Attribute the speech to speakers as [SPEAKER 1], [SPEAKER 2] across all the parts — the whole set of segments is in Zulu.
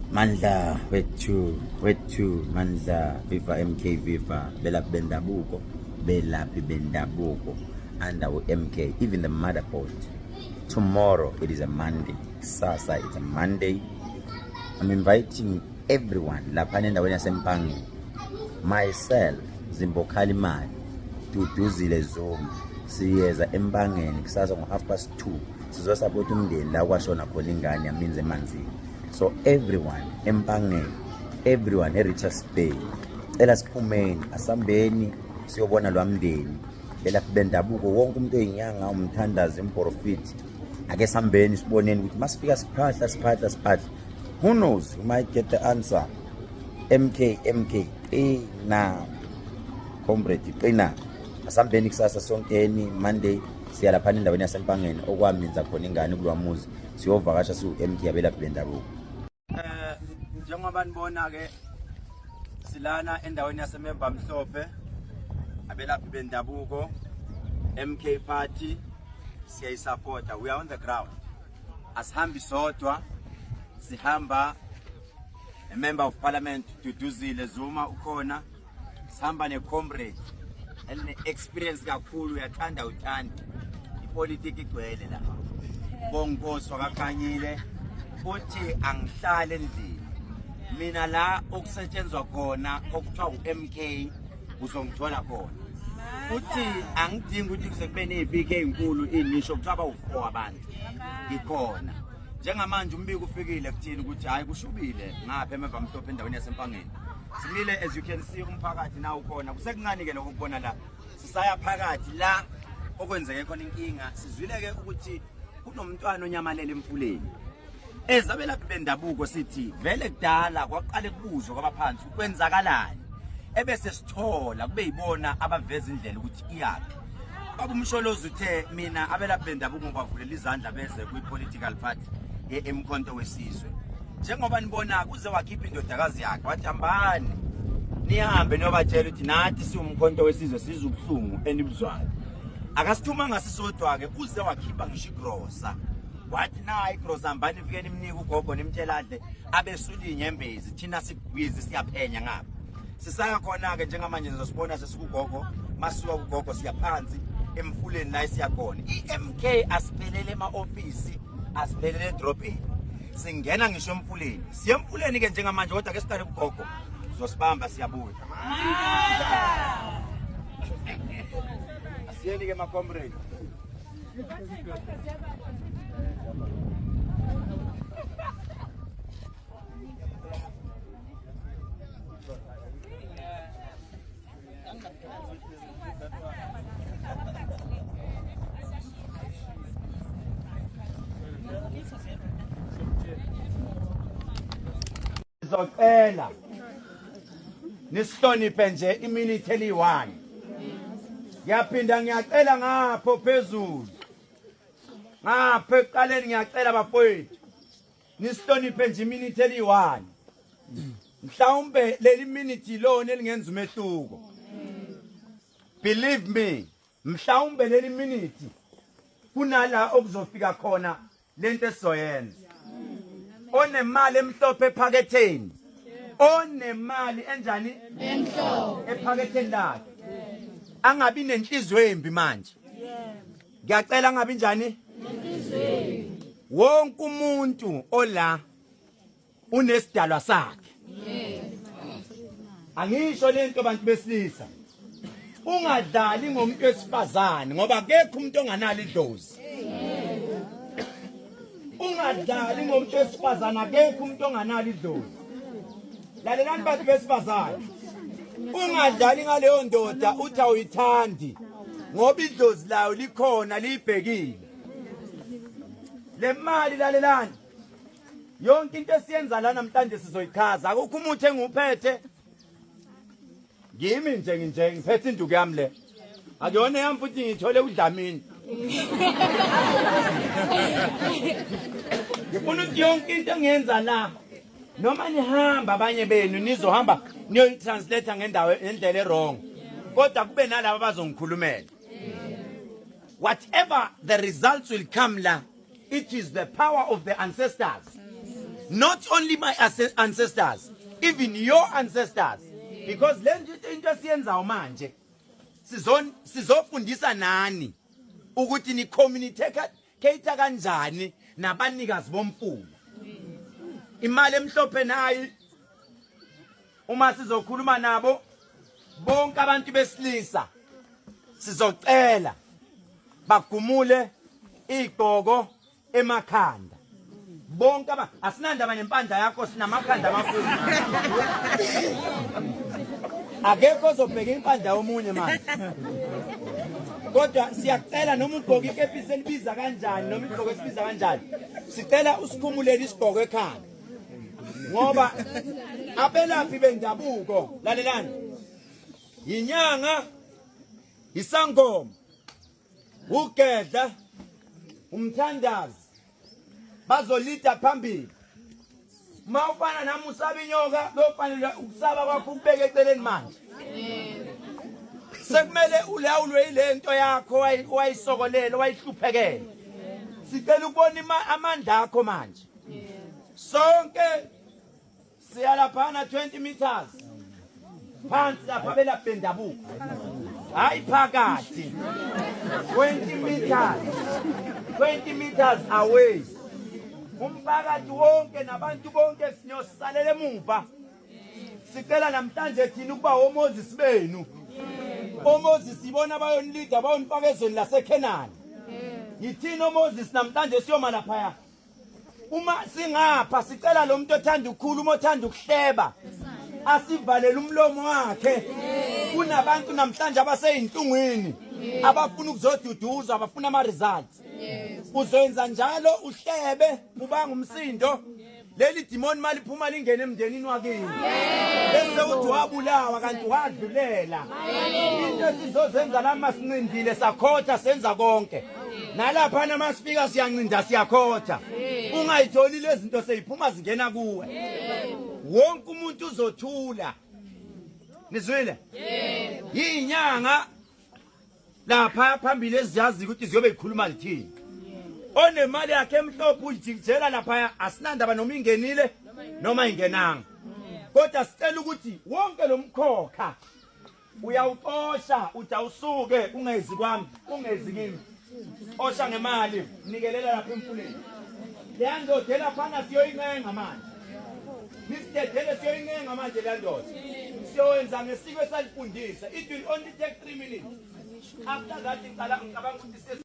[SPEAKER 1] Mandla wethu wethu Mandla viva MK viva belaphi bendabuko belaphi bendabuko under MK even the mother board tomorrow it is a Monday sasa it's a Monday I'm inviting everyone lapha nendaweni yasempangeni myself Zimbokhali Mali Duduzile Zuma siyeza empangeni kusasa ngo half past 2 sizosapota umndeni la kwashona khona ingane yaminzi emanzini so everyone empangeni everyone e-richards bay cela siphumeni asambeni siyobona lwa mndeni belaphi bendabuko wonke umuntu oyinyanga umthandazi imporofiti ake sambeni siboneni ukuthi masifika siphahla siphahla siphahla who knows you might get the answer mk mk qina comrade qina asambeni kusasa sonkeni monday siya laphana endaweni yasempangeni okwaminza khona ingane kulowa muzi siyovakasha siwu-md yabelaphi bendabuko um eh,
[SPEAKER 2] njengoba nibona-ke silana endaweni yasememba mhlophe abelaphi bendabuko mk party siyayisapota we are on the ground asihambi sodwa sihamba a member of parliament duduzile zuma ukhona sihamba ne-comrade eline-experience kakhulu uyathanda uthanda ipolitiki igcwele la bonkosi wakakanyile uthi angihlale endlini mina la okusetshenzwa khona okuthiwa u-m k uzongithola khona uthi angidingi ukuthi kuze kube ne-p k nkulu inisho kuthiwa bawu-four abantu ngikhona njengamanje umbiko ufikile kuthini ukuthi hhayi kushubile ngapha emeva mhlophe endaweni yasempangeni Simile as you can see umphakathi nawo khona kusekuncane ke lokho kubona la sisaya phakathi la okwenzeke khona inkinga sizwile ke ukuthi kunomntwana onyamalele emfuleni ezabelaphi bendabuko sithi vele kudala kwaqale kubuzwa kwabaphansi kwenzakalani ebese sithola kube yibona abaveza indlela ukuthi iyaphi Baba uMsholozi uthe mina abelaphi bendabuko ngikwavulela izandla beze kwi-political party ye-emkhonto wesizwe njengoba nibona kuze wakhipha indodakazi yakhe wathi hambani nihambe niyobatshela ukuthi nathi siwumkhonto wesizwe sizwa ubuhlungu enibuzwayo akasithumanga sisodwa-ke kuze wakhipha ngisho igrosa wathi nayi igrosa hambani fike nimnike ugogo nimtshela adle abesula iy'nyembezi thina sibhizi siyaphenya ngapha sisaya khona-ke njengamanje nizosibona ugogo masuka ugogo siyaphansi emfuleni la siyakhona iMK asiphelele ema office asiphelele edrobheni singena ngisho emfuleni siyemfuleni ke njengamanje kodwa ke siqale ugogo zosibamba siyabuya asiyeni ke ma comrade Zocela nisihloniphe nje imini itheli 1 ngiyaphinda ngiyacela ngapho phezulu ngapha ekuqaleni ngiyacela bafowethu Nisihloniphe nje iminute eliyi-one. Mhlawumbe leli minute ilona elingenza umehluko. Believe me, mhlawumbe leli minute kunala okuzofika khona lento esizoyenza. Onemali emhlophe ephaketheni. Onemali enjani? Emhlophe. Ephaketheni lakhe. Angabi nenhliziyo embi manje. ngiyacela ngabi njani wonke umuntu ola unesidalwa sakhe angisho lento bantu besilisa ungadlali ngomuntu wesifazane ngoba akekho umuntu onganalo idlozi ungadlali ngomuntu wesifazane akekho umuntu onganalo idlozi lalelani bantu besifazane ungadlali ngaleyo ndoda uthi awuyithandi ngoba idlozi layo likhona liyibhekile le mali lalelani yonke into esiyenza la namhlanje sizoyichaza akukho umuthi engiwuphethe ngimi nje nginje ngiphethe induku yami le akuyona yami futhi ngithole udlamini ngifuna ukuthi yonke into engiyenza la noma nihamba abanye benu nizohamba niyoyitranslate ngendawo ngendlela erong kodwa kube nalabo abazongikhulumela whatever the results will come la It is the power of the ancestors. Not only my ancestors, even your ancestors. Because le into esiyenzayo manje sizofundisa nani ukuthi ni communicate kanjani nabanikazi bomfula. Imali emhlophe nayi uma sizokhuluma nabo bonke abantu besilisa sizocela bagumule igqoko emakhanda bonke aba asinandaba nempandla yakho sinamakhanda amakhulu akekho ozobheka impandla yomunye manje kodwa siyacela noma ugqoka ikepisi elibiza kanjani noma igqoko esibiza kanjani sicela usikhumulele isigqoko ekhanda ngoba abelaphi bendabuko lalelani yinyanga isangoma ugedla umthandazi bazolida phambili uma ufana nami usaba inyoka lofanele ukusaba kwakho ukubeke eceleni manje sekumele ulawulwe yile nto yakho wayisokolele wayihluphekele sicela ukubona amandla akho manje sonke siyalaphana 20 meters phansi lapha belaphi bendabuko hayi phakathi 20 meters 20 meters away umphakathi wonke nabantu bonke sinyosalela emuva sicela namhlanje thina ukuba omoses benu omoses ibona abayonilida bayonifaka ezweni lasekhenani yithina omoses namhlanje siyoma laphaya uma singapha sicela lo muntu othanda ukukhuluma othanda ukuhleba asivalele umlomo wakhe kunabantu namhlanje abaseyinhlungwini abafuna ukuzoduduzwa abafuna ama-results uzoyenza njalo uhlebe ubanga umsindo leli dimoni mali phuma lingene emndenini wakini bese uthi wabulawa kanti wadlulela into esizozenza lama sincindile sakhotha senza konke nalaphana amasipika siyancinda siyakhotha ungayitholi lezi zinto seyiphuma zingena kuwe wonke umuntu uzothula nizwile yinyanga lapha phambili eziyazi ukuthi ziyobe zikhuluma lithini onemali yakhe emhlophe uyijikijela lapha asinandaba noma ingenile noma ingenanga kodwa sicela ukuthi wonke lo mkhokha uyawuxosha uthi awusuke ungezi kwami ungezi kimi osha ngemali nikelela lapha emfuleni leya ndoda elaphana siyoyincenga manje nisidedele siyoyincenga manje leya ndoda siyowenza ngesiko esalifundisa it will only take three minutes after that ngicabanga ukuthi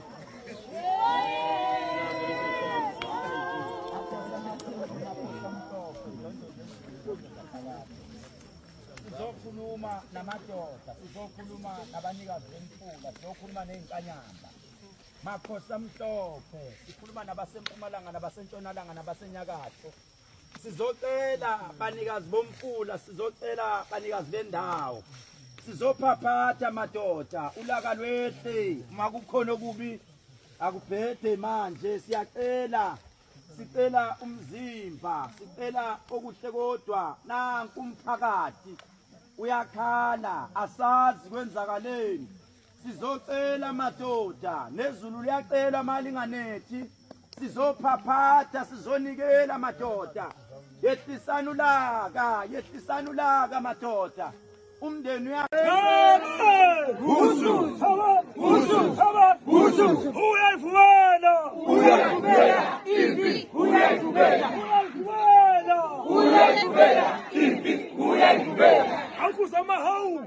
[SPEAKER 2] sizokhuluma namadoda sizokhuluma nabanikazi bemfula sizokhuluma ney'nkanyamba makhosi amhlophe sikhuluma nabasempumalanga nabasentshonalanga nabasenyakatho sizocela banikazi bomfula sizocela banikazi bendawo sizophaphatha madoda ulaka lwehle uma kukhona okubi akubhede manje siyacela sicela umzimba sicela okuhle kodwa nanku umphakathi uyakhala asazi kwenzakaleni sizocela madoda nezulu liyacela malinganethi sizophaphatha sizonikela madoda yehlisani ulaka yehlisani ulaka madoda umndeni uyayivumela uyayivumela impi uyayivumela uyayivumela impi uyayivumela awukuza amahawu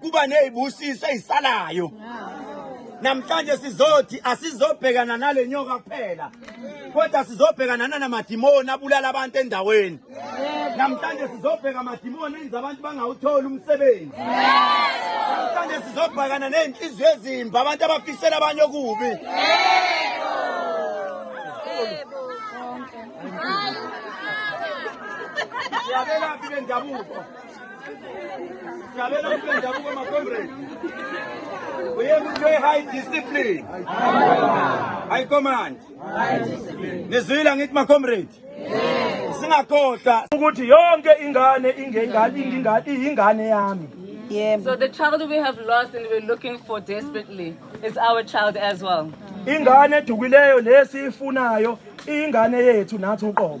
[SPEAKER 2] kuba nezibusiso ezisalayo namhlanje sizothi asizobhekana nale nyoka kuphela kodwa sizobhekana nanamadimoni abulala abantu endaweni namhlanje sizobheka amadimoni enza abantu bangawutholi umsebenzi namhlanje sizobhekana nezinhliziyo ezimbi abantu abafisela abanye okubi yabelaphi bendabuko Cabela mpe ndabuko ma comrade. Uye kuthiwe high discipline. High command. Nizwile ngithi ma comrade. Singakhohlwa ukuthi yonke ingane ingengane ingingane ingane yami. Yebo. So the
[SPEAKER 3] child we have lost and we're looking for desperately is our child as well. Ingane edukileyo
[SPEAKER 2] lesiyifunayo ingane yethu nathi uqobo.